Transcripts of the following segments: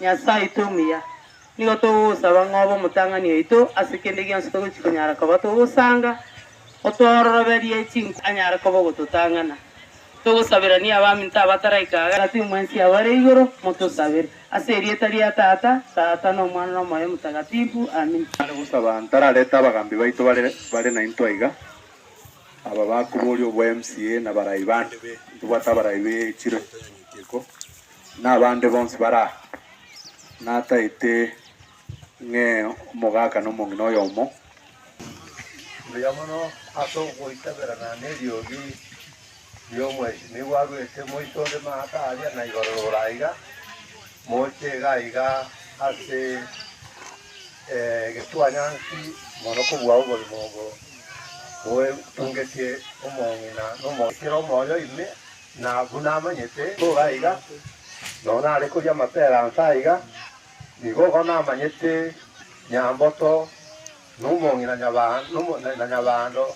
Nyasae oito omuya, nigo togogosaba ng'a obe omotang'ani oito ase kende gionsi togochia konyara koba togosanga, otworoberie chinkoro anyare koba ogototang'ana. Togosaberanie abaminto abataraika aa, na timwensi abo are igoro, motosabere. Ase erieta ria Tata, Tata, na Omwana, na Omoyo Omotagatifu. Amina. Nare gosaba ntararete abagambi baito bare bare naintwe aiga, aba bakoboria obwa MCA na barai bande be intwe bwate abarai be chiro intwe nyinki iko. Nabande bonsi bare aa, nataete ng'e omogaka na omong'ina oyomo. Mbuya mono ase ogoitaberana neriogi ri'omwesinigwa arwete moito onde maaka aria na igoro rogoro aiga, moche iga iga ase egetwanyansi mono kobua oborimo obo boetungetie omong'ina na omong'ina. Kera omoyo ime Na buna amanyete tore aiga, nonya nare koria amapera anse aiga, nigo bono amanyete Nyamboto na omong'ina na Nyabando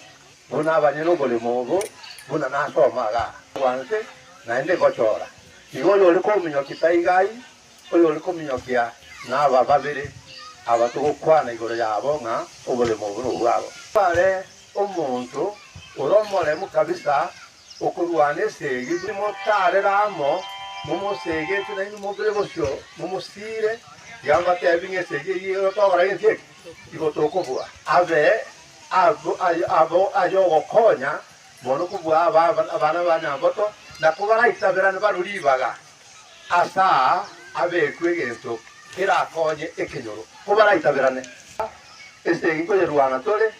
buna abanyene oboremo obo buna nase omoga bwanse naende ngochora. Nigo oyore kominyokia taiga ai, oyore kominyokia naba babere aba togokwana igoro yabo ng'a oboremo obo nobwabo. Bare omonto ore omoremu kabisa Okorwana ase eyio, timotarera amo, momosegete nainwe mobe bosio, momosiire, ekiagera mbatebi ng'a ase eyio eyio ere otogora gento eke, igo tokobua abe agwo aye abo ay'ogokonya mono kobua aba aba abana ba Nyamboto, na kobaraisaberane barwe ribaga ase aa abekwe egento kerakonye ekenyoro, kobaraisaberane ase engencho yerwana tore.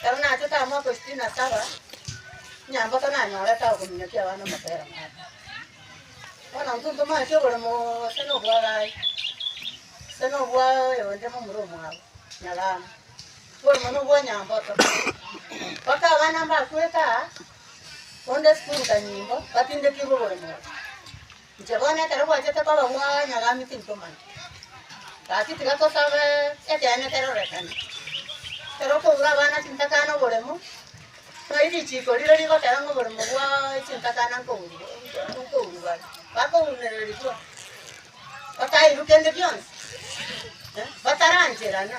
Ekero nachete amoko isiko na saba, nyamboto nanyorete agokominyokia abana omotera ng'ake. Bono intwe ntomanyeti oboremo gose na obwagaye, gose na obwa oyo onde momura omwabo, nyagamba, oboremo na obwa nyamboto. Mpaka abana mbakwete aa, onde sukuru kanyimbo, batindetirwe oboremo obo. Inche bono ekero gwachete koba mwanyagambe tinkomanya, gaki tiga tosabe ekeene kerorekane. Ekero okobura abana chintakana oboremo, tari richiko rire rigokera ng'a oboremo bwa chintakana nkoburwa nkoburwa are, bakobunererigwa, batairwa kende gionsi, eh, batarancherana.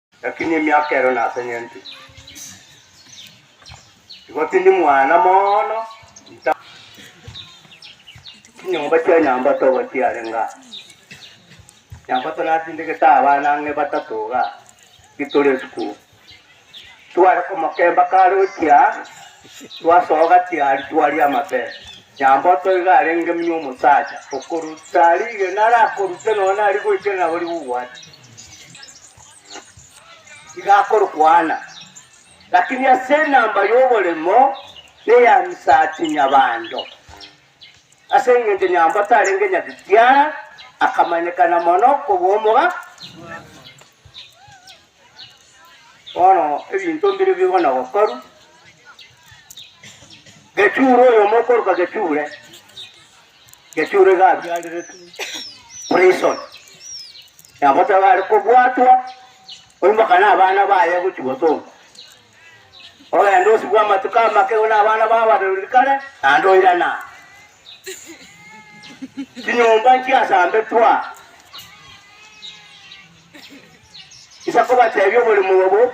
Lakini emiaka ero nasenyentwe, igo tindi mwana mono nta. Chinyomba chia Nyambato obo chiarenge aa. Nyambato natindegete abana ang'e batato iga titore esukuru. Tware komokemba kare ochia twasoa gatiari twaria amabere. Nyamboto iga arenge muna omosacha okoruta rigena arakorute nonya nari goikera nabo rigugwate. tigakorokwana, lakini ase enamba y'oboremo neya misati nyabando. Ase engencho nyambo tarenge nyagitiara, akamanyekana mono kobua omoga. Bono ebinto mbire bigo na gokoru. Gechure oyomo okoroka Gechure Geturo iga abiareretwe prison, nabo taba are kobwatwa, oimoka na abana baye gochia gosomba. Ogenda osibwa amatuko amake na abana bao abarori kare, naende oirana aa. Chinyomba nchiasambe twa. Isa kobatebia oborimo obo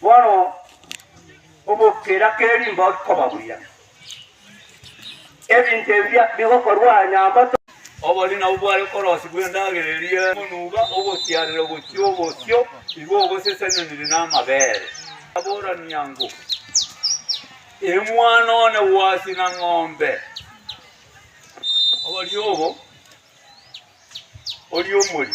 Bono ogokera ke rimbori koba buya. Ebinto ebi bia bigokorwa aa nyambato. Obori nabwo bware okorosi bw'endagera eria emonuba ogotiarera gochia obosio, igo ogoseseneniri namabere. Aborania ng'o, Emwana one gwasi na ng'ombe. Obori obo oria omori.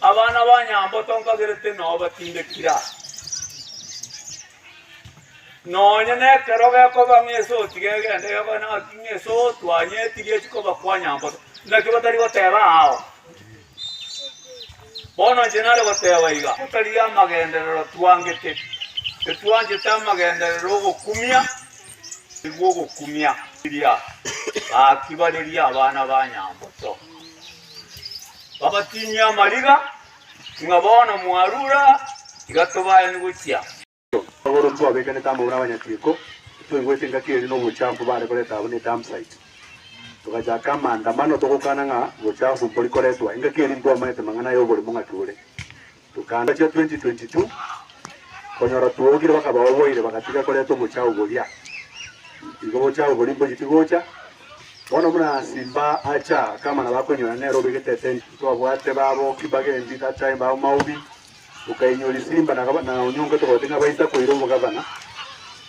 Abana ba nyambo tonkagerete nao batindekira, nonya nekero gekoba ng'ese otige egende gekoe naki ng'ese otwanye etigie chikoba kwa nyambo naki batari goteba ao. Bono inche nare goteba iga, totarigia amagenderero twangete, etwanchete amagenderero ogokumia nigwo ogokumia. Riria gaki bareria abana ba nyambo to. Babatinyie amariga, ng'a bono mwarure aa, tiga tobaeni gochia. Magoro ntwabekanete amo nabanyatiiko, ntwaigwete engaki ere nobochafu bare koreta abwo ne dumpsite. Togachaka amaandamano togokana ng'a bochafu mbori koretwa, engaki eri ntwamaete mang'ana aya oborimo ng'aki bore. Tokanda chia 2022 konyora twogire bakaba oboire bagatiga koreta obochao boria igo bochao boria mbogiti gocha bono buna simba acha akama nabo akoinyora nere obegete etendi twabwate babo kibagendi that time babo maobi okainyori simba na gaba na onyongo togoti ng'a baisa koira obogavana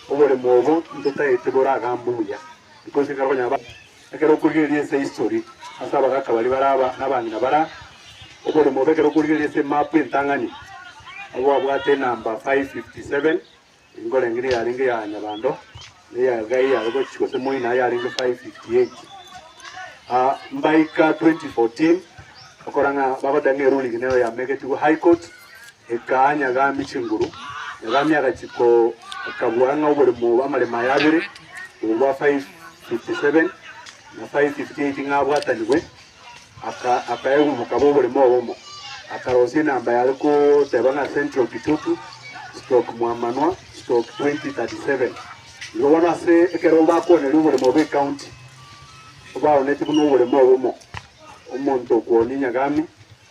oboremo obo ntotaete bore agambuya because kare konyara ba Ekero okorigereria ense history ase abagaka baria bare aba nabang'ina bara oborimo obo ekero okorigereria ase emap entang'ani abwo babwate enamba 557 nkorenge niyo yarenge ya nyabando na eya elgai yare gochi gose moina yarenge 558 ah mbaika 2014 okora ng'a bagoteba ng'a eruling nero yamegetigwe high court Ekaa Nyagami chinguru. Nyagami agachiko akabua ng'a oboremo bw'amaremo aya abere, obo bwa 557 na 558 ng'a abwatanigwe, aka akaegwa mokaba oboremo obomo. Akarosia enamba yare koteba ng'a Central Kitutu stroke Mwamanwa stroke 2037. Igo bono ase ekero bakwoneria oboremo bw'ecounty, baonetie buna oboremo obomo, omonto okwonia Nyagami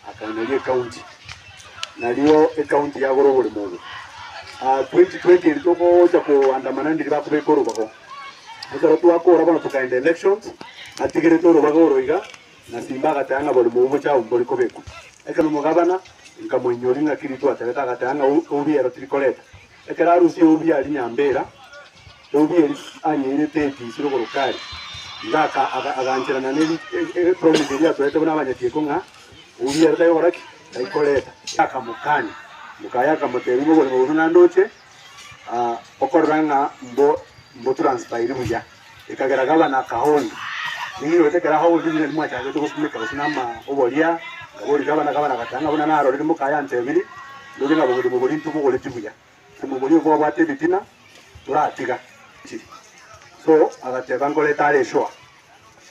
Akainaria ekaunti, nario ekaunti yagora oboremo obo. Ah, twenty twenty eri togocha koandamana ndiri bakobeka orobago. Ekero twakora bono tokaenda elections, natigerete orobago oro iga, na Simba agateba ng'a oboremo obo bocha abu mbori kobekwa. Ekero omogabana, nkamoinyoria ng'aki rituo aterete, agateba ng'a obiero tiri koreta. Ekero arusia eubi aria nyambera, eubi eria anyeirete etisi rogorokari, Ndaka aga- agancherana ne ri- e- e- epromise eria atoete buna abanyachiiko ng'a, Eubi ero taikogora ki? Taikoreta. Akamokania. Mokaye akamotebia, Nigo oborimo bobe naende oche, ah, okorora ng'a mbo- mbotransfairi buya. Ekagera gavana akahonya, Ninki goeta ekero aho obotugi bw'enyene mwachakete gopimeka gose nama oboria? Akaboria gavana, Gavana agateba ng'a, Buna narorire moka yantebirie, ndorie ng'a bogima bwa oborinto mbogoreti buya, gose moboria obo abwate ebitina toratiga chiri. So agateba, Nkorete are esoa.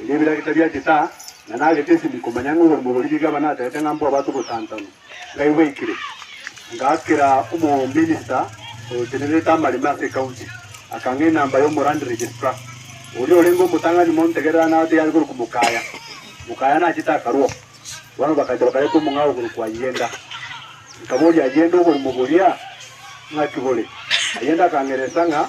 Erio ebiragita bia getaa na nagete esibiko, manya ng'a oborimo boria Gigabana ataete ng'a mbwabate ogotantanwa, ngaigweikire. Ngaakera omominista otenererete amareme ase ecounty, akang'a enamba y'omoland registrar, oria orenge omotang'ani montegerera na ateyo are korokwa Mokaya. Mokaya nachete akarua. Bono bakacha bakareta omong'ao korokwa Ayenda. Nkaboria Ayenda oborimo boria ng'aki bore. Ayenda akang'eresa ng'a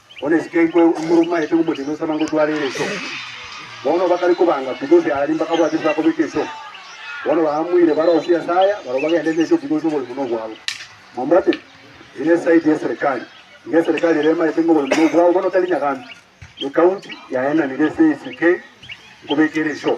Bono esike enkwe morumaete omochie nosaba ngotware ere iso. Bono bakare kobanga kubi ase Aali bakabwata ase bakobeka iso. Bono baamoire barosie ase aya barabwo bagende neso kubi ase oborimo nobwabo. Mwambwate? Eye nesaidi yeserekari. Nigo eserekari ere emaete ngoborimo nobwabo bono tari nyagaantu. Ekaunti yaenanire ase esike nkobeka ere iso.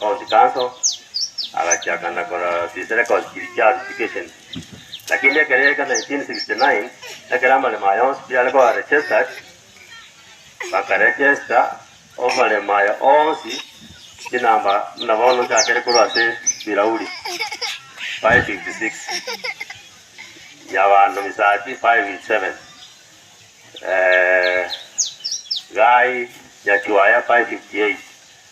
County Council, agachia akana kora this record kiri chia Duplication. Lakini ekero yaika 1969, ekero amaremo aya onsi tiare koba registered, bakaregesta amaremo aya onsi chinamba buna bono nchakere korwa ase bilauri 556 nyabando misati 557 eh, gai nyachuaya 558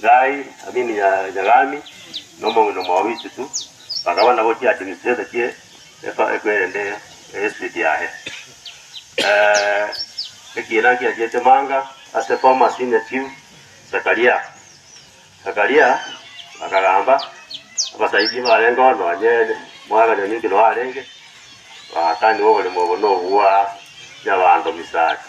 Gai, Amini ya Yagami, na omong'ina omwao Witutu, bakaba nabo chiadministrator chie efa eku eyende ya estate yaye. Ekiina nkiachiete manga ase former senior chief Zakaria. Zakaria akagamba, Abasaibie barenge oo nonye Mwaga Nyanyuki noo arenge, bagakanigwa oboremo obo nobwa Nyabanto Misasi.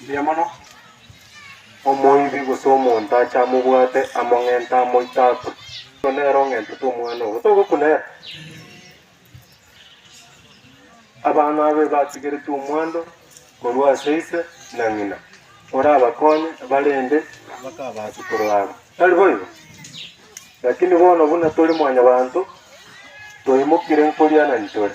Mbuya mono. Omoibi gose omonto ache amobwate among'ente amoite akwe, oyio nere ong'entete omwana obo, togokuna ere. Abana abe batigeretie omwando korwa ase ise na ng'ina, orabakonye barende bakabasukuru abo. Tari boigo? Lakini bono buna tori mwanyabanto, toimokire nkorianani tore.